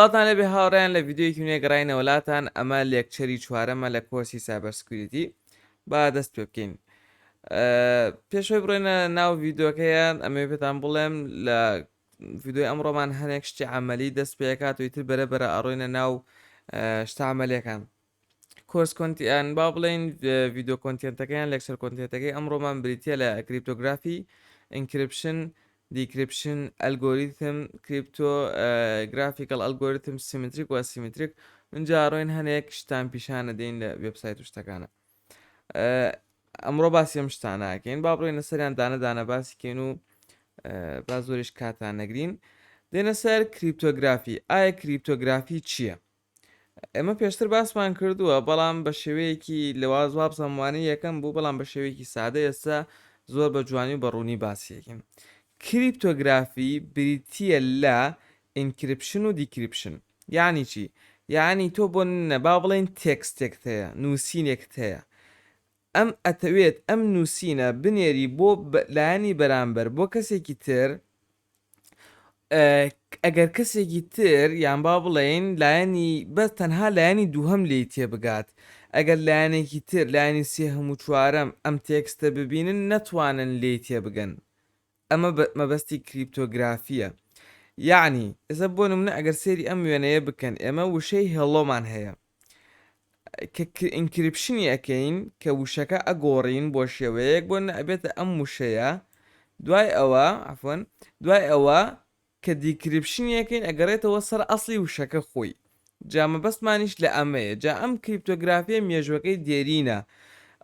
سڵاوتان لێ بێ هاوڕێیان لە ڤیدیۆیەکی نوێ گەڕاینەوە لاتان ئەمە لێکچەری چوارەمە لە کۆرسی سایبەر سکیوریتی با دەست پێ بکەین پێشوەی بڕێنە ناو ڤیدۆکەیە ئەمێ پێتان بڵێم لە ڤیدۆی ئەمڕۆمان هەنێک شتی عملی دەست پێکات و ئیتر بەرە بەرە ئەڕۆینە ناو شتامەلەکان کۆرس کۆنت یان با بڵێین ڤیدۆ کۆنتێنتەکە یان لێکچەر کۆنتێنتەکەی ئەمڕۆمان بریتە لە کریپتۆگرافی ئینکرپشن دیکرپشن ئەلگۆریتم کریپتۆ گرافیکل ئەلگۆریتم سیمتریک و سیمتریک اینجا ڕۆین هەنێک شتان پیشانە دەین لە وبسایت و شتەکانە ئەمڕۆ باسی ئەم شتانەکەین با بڕێنە سەریان دانەدانە باسیکەین و با زۆریش کاتان نەگرین دێنە سەر کریپتۆگرافی ئایا کریپتۆگرافی چییە؟ ئێمە پێشتر باسمان کردووە بەڵام بە شێوەیەکی لەواز وابزانم وانەی یەکەم بوو بەڵام بە شێوەیەکی سادە ئێستا زۆر بە جوانی و بە ڕوونی باسیەکەین کریپتۆگرافی بریتە لە ئینکرپشن و دیکرپشن یعنی چی یعنی تۆ بۆ نەبا بڵێن تێکستێکت هەیە نووسینێکت هەیە ئەم ئەتەوێت ئەم نووسینە بنێری بۆ لایەنی بەرامبەر بۆ کەسێکی تر ئەگەر کەسێکی تر یان با بڵێین لایەنی بەس تەنها لایەنی دووهەم لی تێبگات ئەگەر لایەنێکی تر لایەنی سێ هەموو چوارەم ئەم تێکستە ببینن نەتوانن لی تێبگەن ئەمە مەبەستی کریپتۆگرافیە یاعنی ئێستا بۆ نمونە ئەگەر سێری ئەم وێنەیە بکەن ئێمە وشەی هێڵۆمان هەیە کە ئینکریپشنی ئەکەین کە وشەکە ئەگۆڕین بۆ شێوەیەک بۆ نەئەبێتە ئەم وشەیە دوای ئەوە عفوەن دوای ئەوە کە دیکریپشنی ئەکەین ئەگەڕێتەوە سەر ئەسڵی وشەکە خۆی جا مەبەستمانیش لە ئەمەیە جا ئەم کریپتۆگرافیە مێژوەکەی دێرینە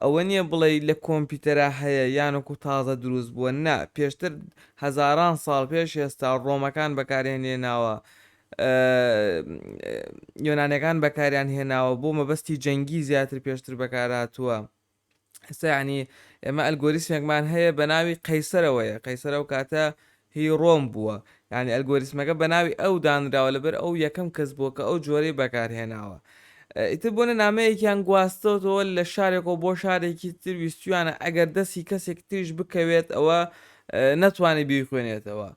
ئەوە نییە بڵێ لە کۆمپیوتەرا هەیە یانکو تازە دروست بووە نا پێشتر هەزاران ساڵ پێش ئێستا ڕۆمەکان بەکارێنێناوە یۆنانیەکان بەکاریان هێناوە بۆ مەبەستی جەنگی زیاتر پێشتر بەکارهاتووە ئێستا یعنی ئێمە ئەلگۆریسمێکمان هەیە بە ناوی قەیسەرەوەیە قەیسەرە و کاتە هی ڕۆم بووە یعنی ئەلگۆریسمەکە بە ناوی ئەو دانراوە لەبەر ئەو یەکەم کەس بووە کە ئەو جۆرەی بەکارهێناوە ئیتر بۆنە نامەیەکیان گواستەوەەوە لە شارێکەوە بۆ شارێکی تر ویستویانە ئەگەر دەستی کەسێک تریش بکەوێت ئەوە نەتوانێت بیخوێنێتەوە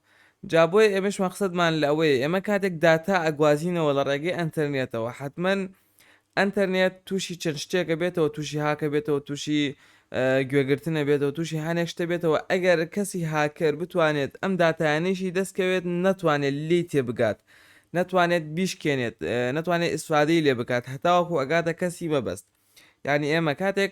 جا بۆیە ئێمەش مەقسەدمان لە ئەوەیە ئێمە کاتێک داتا ئەگوازینەوە لە ڕێگەی ئەنتەرنێتەوە حەتمەن ئەنتەرنێت تووشی چەند شتێکە بێتەوە تووشی هاکە بێتەوە تووشی گوێگرتنە بێتەوە تووشی هەنێک شتە بێتەوە ئەگەر کەسی هاکەر بتوانێت ئەم دااتانیشی دەستکەوێت نەتوانێت لی تێ بگات نەتوانێت بیشکێنێت نەتوانێت ئیسفادەی لێ بکات هەتاوەکو ئەگاتە کەسی مەبەست یعنی ئێمە کاتێک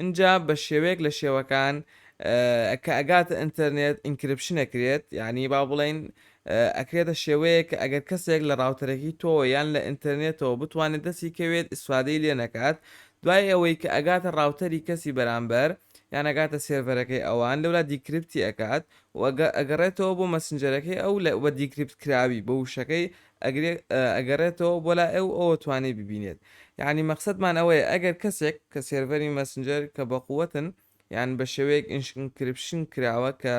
ئینجا بە شێوەیەک لە شێوەکان کە ئەگاتە ئینتەرنێت ئینکریپشن ئەکرێت یانی با بڵێین ئەکرێتە شێوەیەک کە ئەگەر کەسێک لە ڕاوتەرەکەی تۆوە یان لە ئینتەرنێتەوە بتوانێت دەستی کەوێت ئیسفادەی لێ نەکات دوای ئەوەی کە ئەگاتە ڕاوتەری کەسی بەرامبەر یان ئەگاتە سێرڤەرەکەی ئەوان لەولا دیکریپتی ئەکات و ئەگەڕێتەوە بۆ مەسنجەرەکەی ئەو لە وە دیکریپت کراوی بە وشەکەی ئەگرێ ئەگەڕێتەوە بۆ لای ئەو ئەوە توانێ ببینێت یانی مەقسەدمان ئەوەیە ئەگەر کەسێک کە سێرڤەری مەسنجەر کە بەقوەتن یان بە شێوەیەک ئینشنکرپشن کراوە کە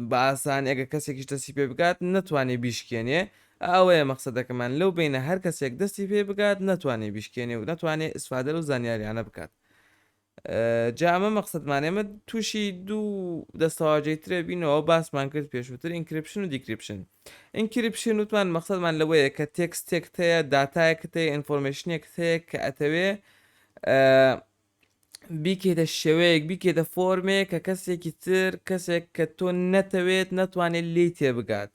بە ئاسانی ئەگە کەسێکیش دەستی پێ بگات نەتوانێ بیشکێنێ ئەوەیە مەقصدەکەمان لەو بینە هەر کەسێک دەستی پێ بگات نەتوانێ بیشکێنێ و نەتوانێ ئسفادە و زانیاریانە بکات جا ئەمە مەقسەدمان ئێمە تووشی دوو دەستەواژەی ترە بینەوە باسمان کرد پێشووتر ئینکرپشن و دیکرپشن ئینکرپشن وتمان مەقسەدمان لەوەیە کە تێکستێکت هەیە داتایەکت هەیە ئینفۆرمێشنێکت هەیە کە ئەتەوێ بیکەیتە شێوەیەک بیکەیتە فۆرمێک کە کەسێکی تر کەسێک کە تۆ نەتەوێت نەتوانێت لی تێبگات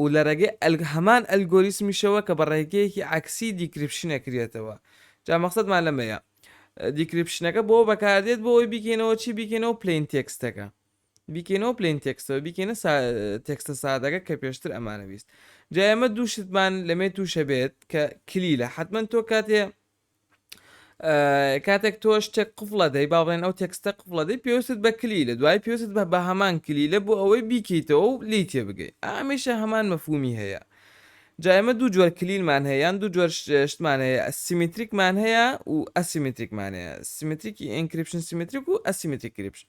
و لە ڕێگەی هەمان ئەلگۆریسمیشەوە کە بە ڕێگەیەکی عەکسی دیکریپشن ئەکرێتەوە جا مەقسەدمان لەمەیە دیکریپشنەکە بۆ بەکاردێت بۆ ئەوەی بیکەینەوە چی بیکەینەوە پلەین تێکستەکە بیکەینەوە پلەین تێکستەوە بیکەینە تێکستە سادەکە کە پێشتر ئەمانە بیست جا ئێمە دوو شتمان لەمێ تووشە بێت کە کلیلە حتمما تۆ کاتێ کاتێک تۆ شتێک قفڵە دەی با بڵێن ئەو تێکستە قفڵە دەی پێویستت بە کلی لە دوای پێویست بە بە هەمان کلی لە بۆ ئەوەی بیکەیتەوە و لی تێ بگەی ئامیشە هەمان مەفومی هەیە جایمە دوو جۆر کلیلمان هەیە یان دوو جۆر شتمان هەیە سیمتریکمان هەیە و ئەسیمتریکمان هەیە سیمتریکی ئینکریپشن سیمتریک و ئەسیمتریک کریپشن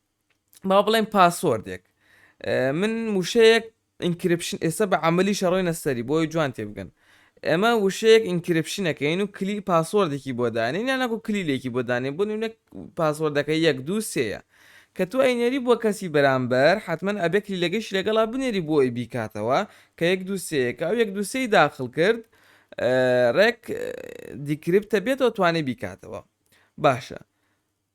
با بڵێن پاسۆردێک من وشەیەک ئینکرپشن ئێستا بە عملی شەڕۆینە سەری بۆی جوان تێبگەن ئەمە وشەیەک ئینکرپشنەکەین و کلی پاسۆردێکی بۆ دانێن یا نەکو کلیلێکی بۆ دانێن بۆ نمونە پاسۆردەکە یەک دو سێە کە تو ئەینێری بۆ کەسی بەرامبەر حتمما ئەبێ کلیلەکەش لەگەڵا بنێری بۆ ئەی بیکاتەوە کە یەک دو سێەکە ئەو یەک دو سێی داخل کرد ڕێک دیکرپتە بێتەوە توانێ بیکاتەوە باشە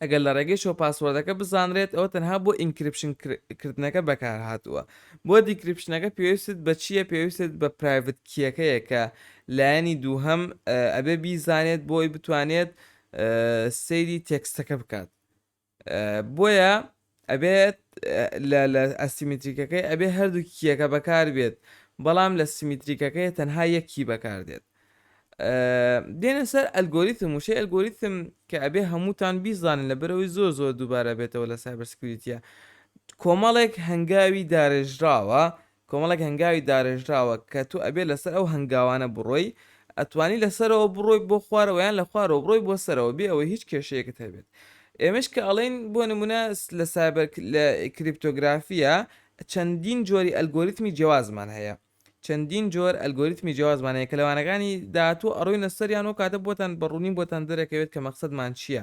ئەگەر لە ڕێگەی شەوە پاسوۆردەکە بزانرێت ئەوە تەنها بۆ ئینکریپشن کردنەکە بەکارهاتووە بۆ دیکریپشنەکە پێویستت بە چییە پێویستت بە پرایڤت کیەکەیە کە لایەنی دووهەم ئەبێ بیزانێت بۆی بتوانێت سەیری تێکستەکە بکات بۆیە ئەبێت لە لە ئەسیمیتریکەکەی ئەبێ هەردوو کیەکە بەکار بێت بەڵام لە سیمیتریکەکەی تەنها یەک کی بەکار دێت دێنە سەر ئەلگۆریتم وشەی ئەلگۆریتم کە ئەبێ هەمووتان بیزانن لە بەرەوەی زۆر زۆر دووبارە بێتەوە لە سایبەرسکریتە کۆمەڵێک هەنگاوی دارێژراوە کۆمەڵێک هەنگاوی دارێژراوە کە تۆ ئەبێ لەسەر ئەو هەنگاوانە بڕۆی، ئەتوانی لە سەرەوە بڕۆی بۆ خوارەوە یان لە خوارەوە بڕۆی بۆ سەرەوە بێ ئەوەی هیچ کێشەیەکت هەبێت. ئێمەیش کە ئەڵێین بۆ نمونە لە سایبەر لە کریپتۆگرافیا چەندین جۆری ئەلگۆریتمی جیوازمان هەیە چەندین جۆر ئەلگۆریتمی جیوازمان هەیە کە لە وانەکانی داهاتوو ئەڕۆینە سەریان و کاتە بۆتان بە ڕوونی بۆتان دەرەکەوێت کە مەقسەدمان چییە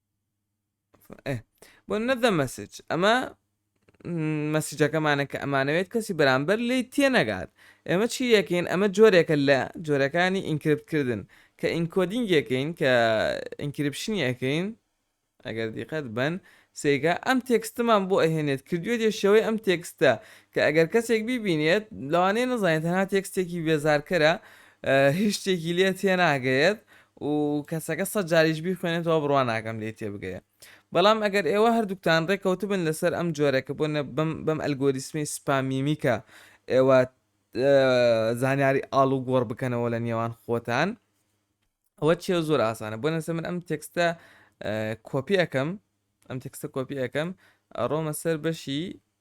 بۆ نەدە مەسج ئەمە مەسیجەکەمانە کە ئەمانەوێت کەسی بەرامبەر لی تێنەگات ئێمە چی یەکەین ئەمە جۆرێکە لە جۆرەکانی ئینکرپتکردن کە ئینکۆدینگ یەکەین کە ئینکرپشن یەکەین ئەگەر دیقەت بن سێگا ئەم تێکستمان بۆ ئەهێنێت کردوێت یشەوەی ئەم تێکستە کە ئەگەر کەسێک بیبینێت لەوانەیە نەزانێت هەنا تێکستێکی بێزارکەرە هیچ شتێکی لێ تێناگەیەت و کەسەکە سەد جاریش بیخوێنێتەوە بڕوا ناکەم لێی تێبگەیە بەڵام ئەگەر ئێوە هەردووکتان ڕێکەوتبن لەسەر ئەم جۆرە کە بۆ بەم ئەلگۆریسمی سپامیمیکە ئێوە زانیاری ئاڵ و گۆڕ بکەنەوە لە نێوان خۆتان ئەوە چێ زۆر ئاسانە بۆ نەسە من ئەم تێکستە کۆپی ئەەکەم ئەم تێکستە کۆپی ئەەکەم ڕۆمە سەر بەشی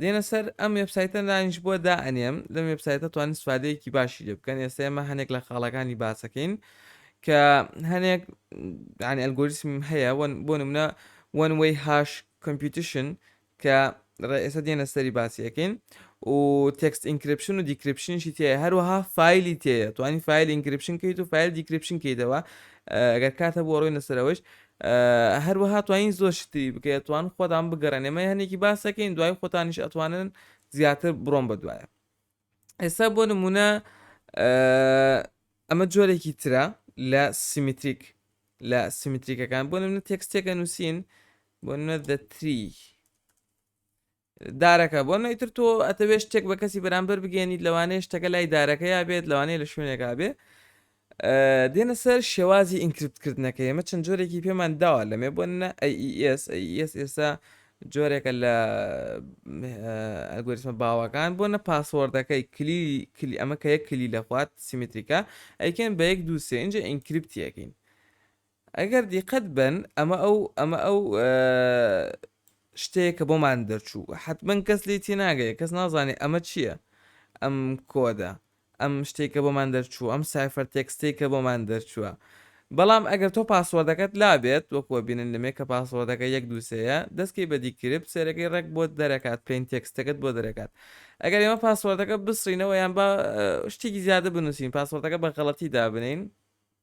دێنە سەر ئەم وێبسایتە دانیش بۆ دا ئەنێم لەم وێبسایتە توانین سوپادەیەکی باشی لێ بکەن ئێستا ئێمە هەنێک لە خاڵەکانی باسەکەین کە هەنێک دانی ئەلگۆریسم هەیە بۆ نمونە وەن وی هاش کۆمپیوتشن کە ڕێئێستا دێنە سەری باسیەکەین و تێکست ئینکرپشن و دیکرپشنشی تێ هەروەها فیلی تێە توانی فیل ئینکرپشن کەیت و فیل دیکرپشن کەیتەوە گەر کاتە بۆ ڕۆی نەسەرەوەش هەروەها توانین زۆر شتی تری بکەی ئەتوان خۆتان بگەڕێن ئێمە هەنێکی باسەکەین دوای خۆتانیش ئەتوانن زیاتر بڕۆم بە دوایە ئێستا بۆ نمونە ئەمە جۆرێکی ترە لە سیمیتریک لە سیمیتریکەکان بۆ نمونە تێکستێکە نووسین بۆ نە دەتری دارەکە، بۆ نمونەئیتر تۆ ئەتەوێت شتێک بە کەسی بەرامبەر بگەێنیت لەوانەیە شتەکە لای دارەکەیا بێت لەوانەیە لە شوێنێکا بێ دێنە سەر شێوازی ئینکردکردنەکە ئێمە چەند جۆرێکی پێمان داوا لەمێ بۆ نە ئەس ئەس ئێستا جۆرێکە لە ئەگوریسمە باوەکان بۆ نە پاسۆردەکەی کلی کلی ئەمە کە یەک کلی لەخوات سیمتریکە ئەیکەن بە یەک دووسێ اینجا ئینکریپتیەکەین ئەگەر دیقەت بەن ئەمە ئەو ئەمە ئەو شتەیە کە بۆمان دەرچوو حتمما کەس لی تیناگەیە کەس نازانێ ئەمە چییە ئەم کۆدە ئەم شتێکە بۆمان دەرچوو ئەم سایفەر تێکستێک کە بۆمان دەرچووە بەڵام ئەگەر تۆ پاسوەردەکەت لابێت وەکوە بینن لەمێ کە پاسوەردەکە یەک دووسەیە دەستکی بە دیکرپ سێرەکەی ڕێک بۆ دەرەکات پێین تێکستەکەت بۆ دەرەکات ئەگەر ئێمە پاسوەردەکە بسرینەوە یان بە شتێکی زیادە بنووسین پاسوەردەکە بە غەڵەتی دابنین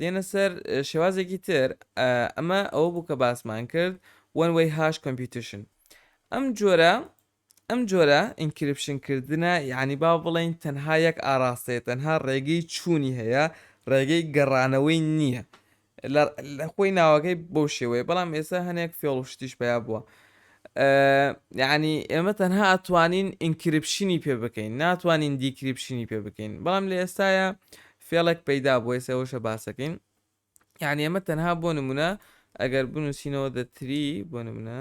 دێنە سەر شێوازێکی تر ئەمە ئەوە بوو کە باسمان کرد وەن وەی هاش کۆمپیوتشن ئەم جۆرە ئەم جۆرە ئینکرپشن کردنە یعنی با بڵین تەنها یەک ئاراستەیە تەنها ڕێگەی چوونی هەیە ڕێگەی گەڕانەوەی نییە لە خۆی ناوەکەی بۆ شێوەیە بەڵام ئێستا هەنێک فێڵ و شتیش پیا بووە یعنی ئێمە تەنها ئەتوانین ئینکرپشنی پێ بکەین ناتوانین دیکرپشنی پێ بکەین بەڵام لە ئێستاە فێڵێک پەیدا بوو ئێستا ئەوەشە باسەکەین یعنی ئەمە تەنها بۆ نمونە ئەگەر بنووسینەوە دەتری بۆ نمونە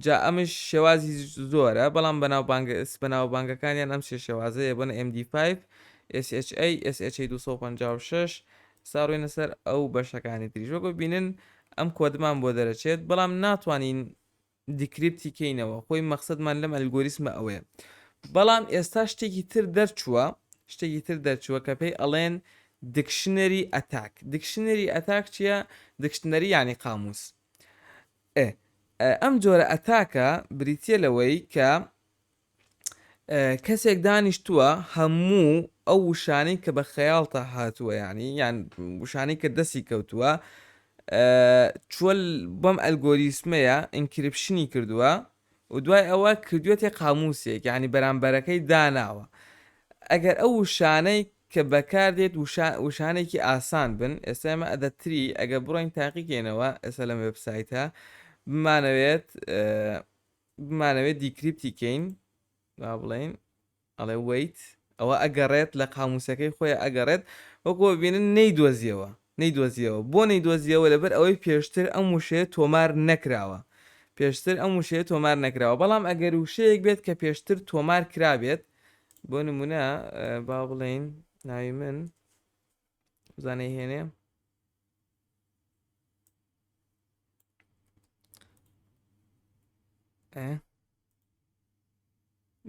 جا ئەمش شێوازی زۆرە بەڵام بەناو بانگس بەناو بانگەکانیان ئەم شێ شێوازەیە بۆنە MD5 SHA SHA 256 ساڕوێنە سەر ئەو بەشەکانی تریژۆگە بینن ئەم کۆدمان بۆ دەرەچێت بەڵام ناتوانین دیکریپتی کەینەوە خۆی مەخسەدمان لەم ئەلگۆریسمە ئەوەیە بەڵام ئێستا شتێکی تر دەرچووە شتێکی تر دەرچووە کە پێی ئەڵێن دکشنەری ئەتاک دکشنەری ئەتاک چییە دکشنەری یعنی قاموس ئەم جۆرە ئەتاکە بریتە لەوەی کە کەسێک دانیشتووە هەموو ئەو وشانەی کە بە خەیاڵتا هاتووە یانی یان وشانەی کە دەستی کەوتووە چۆل بەم ئەلگۆریسمەیە ئینکرپشنی کردووە و دوای ئەوە کردوێتێ قاموسێک ینی بەرامبەرەکەی داناوە ئەگەر ئەو وشانەی کە بەکاردێت وشانێکی ئاسان بن ئێستا ئمە ئەدەتری ئەگە بڕۆین تاقیکەینەوە ئێستا لەم وبسایتە بمانەوێت بمانەوێت دیکریپتی کەین با بڵێین ئەڵێ وەیت ئەوە ئەگەڕێت لە قاموسەکەی خۆی ئەگەڕێت وەکۆ ببینن نەیدۆزیەوە نەیدۆزیەوە بۆ نەیدۆزیەوە لەبەر ئەوەی پێشتر ئەم وشەیە تۆمار نەکراوە پێشتر ئەم وشەیە تۆمار نەکراوە بەڵام ئەگەر وشەیەک بێت کە پێشتر تۆمار کرابێت بۆ نمونە با بڵێین ناوی من بزانەی هێنێ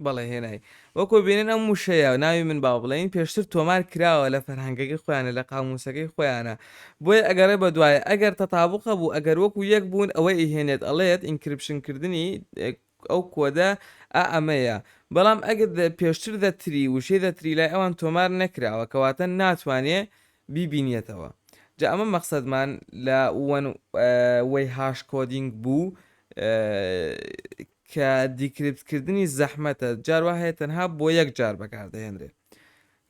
بەڵێ هێنای وەکۆ بێنن ئەم وشەیە ناوی من با بڵێن پێشتر تۆمار کراوە لە فەرهەنگەکەی خۆیانە لە قاموسەکەی خۆیانە بۆیە ئەگەڕێ بە دوایە ئەگەر تەتابقە بوو ئەگەر وەکو یەک بوون ئەوەی ئیهێنێت ئەڵێت ئینکرپشن کردنی ئەو کۆدە ئا ئەمەیە. بەڵام ئەگەر the پێشتر the تری وشەی the تری لای ئەوان تۆمار نەکراوە کەواتە ناتوانێ بیبینیەتەوە. جا ئەمە مەقسەدمان لە وەن وەی هاش کۆدینگ بوو کە دیکریپت کردنی زەحمەتە جار وا هەیە تەنها بۆ یەک جار بەکار دەهێنرێ.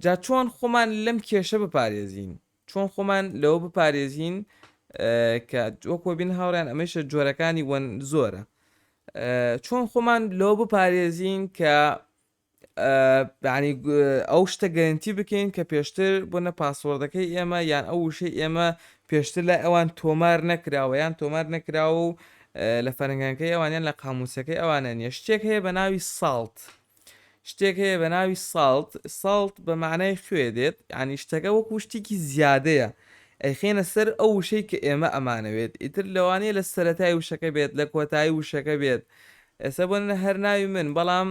جا چۆن خۆمان لەم کێشە بپارێزین؟ چۆن خۆمان لەوە بپارێزین کە وەک وەبین هاوڕیان ئەمەیشە جۆرەکانی وەن زۆرە چۆن خۆمان لەوە بپارێزین کە ئەو شتە گەرنتی بکەین کە پێشتر بۆنە پاسۆردەکەی ئێمە یان ئەو وشەی ئێمە پێشتر لای ئەوان تۆمار نەکراوە یان تۆمار نەکراوە و لە فەرنگەکەی ئەوانیان لە قاموسەکەی ئەوانە نیە شتێک هەیە بە ناوی ساڵت شتێک هەیە بە ناوی ساڵت ساڵت بە معنای خوێ دێت ینی شتەکە وەکو شتێکی زیادەیە ئەیخێنە سەر ئەو وشەی کە ئێمە ئەمانەوێت ئیتر لەوانەیە لە سەتای وشەکە بێت لە کۆتایی وشەکە بێت ئێستا بۆ نە هەر ناوی من بەڵام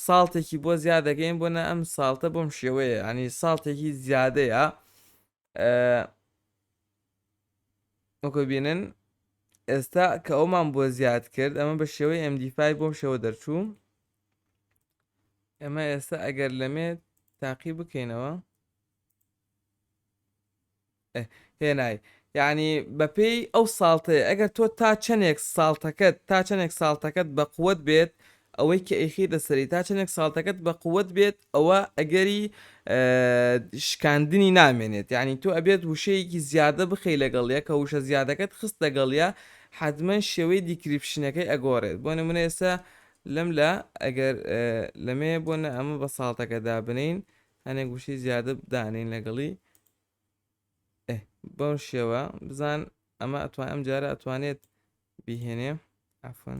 ساڵتێکی بۆ زیاد دەکەین بۆ نە ئەم ساڵتە بۆم شێوەیە ینی ساڵتێکی زیادەیە وەکو بینن ئێستا کە ئەومان بۆ زیاد کرد ئەمە بە شێوەی MD5 بۆم شێوە دەرچوو ئەمە ئێستا ئەگەر لەمێ تاقی بکەینەوە هێنای یعنی بەپێی ئەو ساڵتەیە ئەگەر تۆ تا چەندێک ساڵتەکەت تا چەندێک ساڵتەکەت بە قوت بێت ئەوەی کە ئەیخەیتە سەری تا چەندێک ساڵتەکەت بە قوت بێت ئەوە ئەگەری شکاندنی نامێنێت یعنی تۆ ئەبێت وشەیەکی زیادە بخەی لەگەڵە کە وشە زیادەکەت خست لەگەڵە حەزمەن شێوەی دیکریپشنەکەی ئەگۆڕێت بۆ نمونە ئێستا لەم لە ئەگەر لەمێ بۆ نە ئەمە بە ساڵتەکە دابنین هەنێک وشەی زیادە بدانین لەگەڵی بەو شێوە بزان ئەمە ئەتوان ئەم جارە ئەتوانێت بیهێنێ ئەفن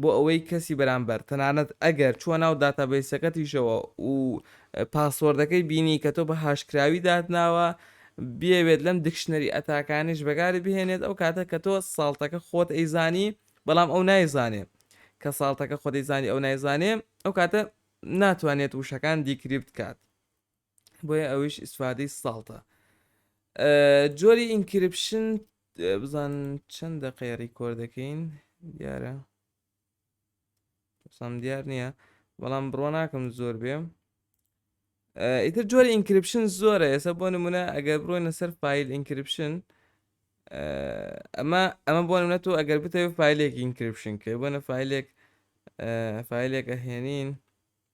بۆ ئەوەی کەسی بەرامبەر تەنانەت ئەگەر چووە ناو داتابەیسەکەتیشەوە و پاسۆردەکەی بینی کە تۆ بە هاشکراوی داتناوە بیەوێت لەم دکشنەری ئەتاکانیش بەکاری بهێنێت ئەو کاتە کە تۆ ساڵتەکە خۆت ئەیزانی بەڵام ئەو نایزانێ کە ساڵتەکە خۆ دەیزانی ئەو نایزانێ ئەو کاتە ناتوانێت وشەکان دیکریپت کات بۆیە ئەویش ئیسفادەی ساڵتە جۆری ئینکرپشن بزان چەند دەقەیە ڕیکۆر دەکەین دیارە سام دیار نییە بەڵام بڕۆ ناکەم زۆر بێ ئیتر جۆری ئینکرپشن زۆرە ئێستا بۆ نمونە ئەگەر بڕۆینە سەر فیل ئینکرپشن ئەمە ئەمە بۆ نمونە تۆ ئەگەر بتەوێت فیلێک ئینکرپشن کە بۆنە فیلێک فیلێک ئەهێنین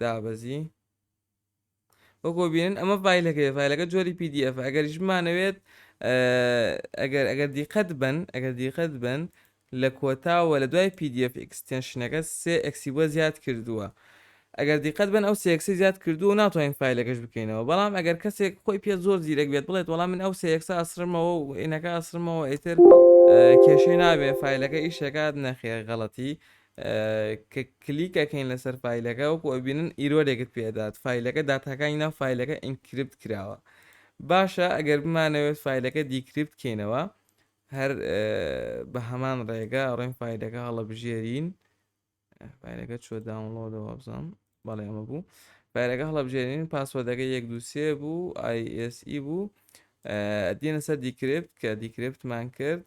دابەزی وەکۆ بینن ئەمە فیلەکەی فیلەکە جۆری PDF ئەگەریش بمانەوێت ئەگەر ئەگەر دیقەت بن ئەگەر دیقەت بن لە کۆتاوە لە دوای PDF ئەکسستێنشنەکە سێ ئەکسی بۆ زیاد کردووە ئەگەر دیقەت بن ئەو سێکسی زیاد کردو و ناتوانین فیلەکەش بکەینەوە بەڵام ئەگەر کەسێک خۆی پێ زۆر زیرەک بێت بڵێت وەڵام من ئەو سێکسە ئەسرمەوە و عینەکە ئەسرمەوە ئیتر کێشەی نابێ فیلەکە ئیشەکات نەخێر غەڵەتی کە کلیک ئەکەین لەسەر فایلەکە وەکو ئەبینن ئیرۆرێکت پێدات فایلەکە داتاکانی ناو فایلەکە ئینکریپت کراوە باشە ئەگەر بمانەوێت فایلەکە دیکریپت کەینەوە هەر بە هەمان ڕێگە ڕێن فایلەکە هەڵەبژێرین فایلەکە چۆ داونلۆدەوە بزانم بەڵێ ئەمە بوو فایلەکە هەڵەبژێرین پاسوەدەکە یەک دووسێ بوو ئایSE بوو دێنە سەر دیکرێت کە دیکرێتمان کرد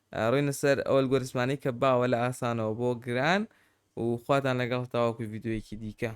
ڕۆینە سەر ئەو ئەلگۆریسمانەی کە باوە لە ئاسانەوە بۆ گران و خواتان لەگەڵ تاوەکو ڤیدیۆیەکی دیکە.